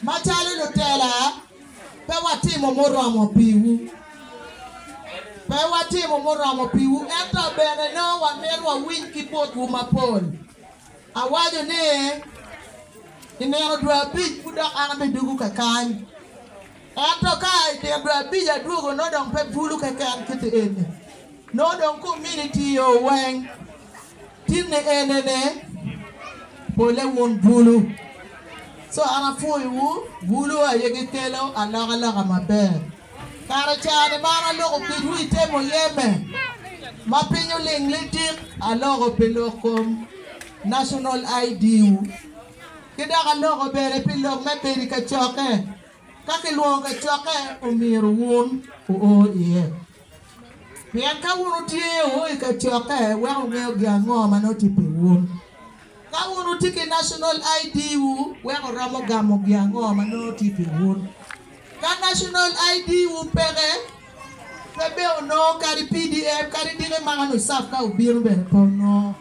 Macalo lutela, pe watimo muromo piwu. Pe watimo muromo piwu, ento bene nongo wamito wawiny ki botwu mapol. Awaco ni, i nino dwe abic pud dok an abidugu kakany. Ento ka i nino dwe abic adwogo, nongo dong pe bulu keken kit eni, nongo dong kominiti oweng. Tinne enene, pole wun bulu, ci an apwoyowu, bulu aye gikelo alokaloka maber. Kara caa-ni ma an aloko kwidwu i te muyeme, ma piny oling lidik, aloko pi lok kom, National ID-wu, ki dok aloko bene pi lok me bedo i kacokke. Ka kilwongo kacokke, omyero wun wuo iye. Pien ka wun wutye o i kacokke, weko wungeyo gin ango ma nongo tye pi wun. Ka wun wutye ki National ID wu, weko wuromo gamo gin ango ma nongo tye pi wun. Ka National ID wu peke, pe bene wunongo kadi pdf kadi diki maka nusaf ka wubino bene pe wunongo.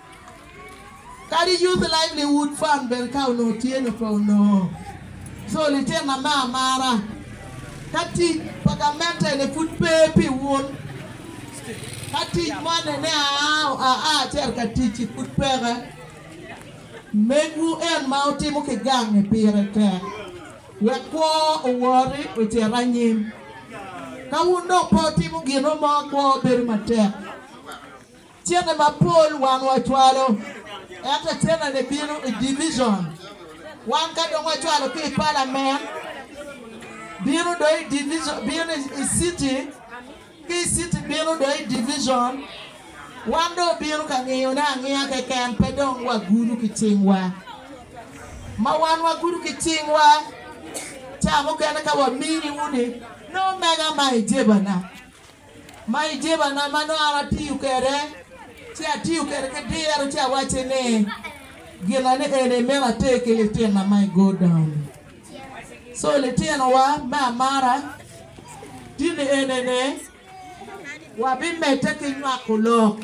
Kadi Youth Livelihood Fund bene ka onongo tye ni pe onongo. So litinna me amara, ka tic pa gamenteene pud pe pi wun, ka tic moni ni aa acito ka tic-ci pud peke, megwu en ma wutimo ki gangi pire tek wek kwo owori ocit anyim. Ka wun dong pe wutimo gin mo, kwo bedo matek. Cene mapol wan wacwalo, ento cenene bino i division. Wan ka dong wacwalo ki i palamen, bino dong i division, bino i city, ki i city bino dong i division. Wan dong obino ka ngiyone angiya keken, pe dong wagudo ki cingwa. Ma wan wagudo ki cingwa, ca mukene ka wamini uni, ni omega ma ijebana. Ma i jebana ma nongo an atiyo kwede, ci atiyo kwede ki diro ci awacci ni, Gina ni eni imito ater ki litina ma i Go Down. Co litinowa me amara dini eni ni wabimedde ki nywako lok.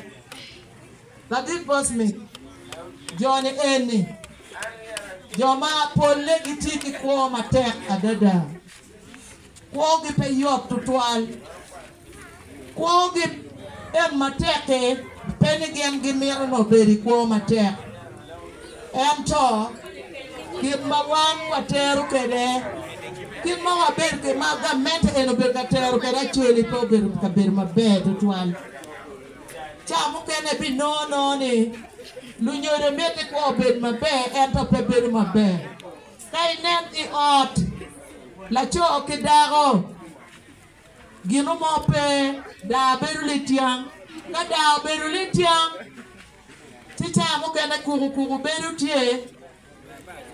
Lagik Bosmith, Joni eni jo ma polle gitye ki kwo matek adada. Kwogi pe yot tutwal. Kwogi en matek-ki, pe ni gin gimito ni obed i kwo matek. Ento, gin ma wan watero kwede, kit ma wabedo ki ma gamente en obedo ka tero kwede acel-li pe obedo ka bedo maber tutwal. Ca mukene ibinongo nongo ni lunyodo miti kwo obed maber ento pe bedo maber. Ka inen i ot laco ki dako, ginu mo pe, daa bedo lityang. Ka daa obedo lityang, ci caa mukene kuku kuku bedo tye.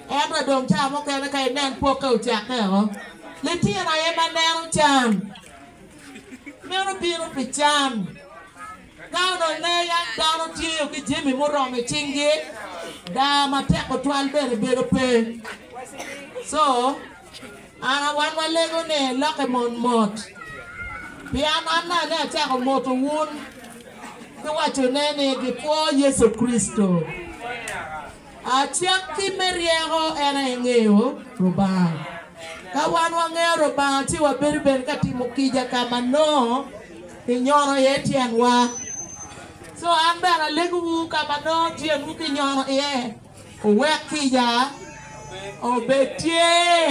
Ento dong caa mukene ka inen pokke ocakke o. Litino aye ma neno can. Meno bino pi can. Ka onongo ne yam dano tyeyo ki jami muromo i cingi, daa matek tutwal bene bedo pe. Co ana wan walego ni, Lokke mot mot, pian an naka ne acako moto wun ki waco ne ni gikwo Yecu Kricito. Acakki me ryeko en aye ngeyo Lubanga. Ka wan wangeyo Lubanga ci wabedo bene ka timo kica ka ma nongo. Kinyono iye tyenwa. Co an bene alegowu ka ma nongo tyenwu kinyono iye, wuwek kica obed tye.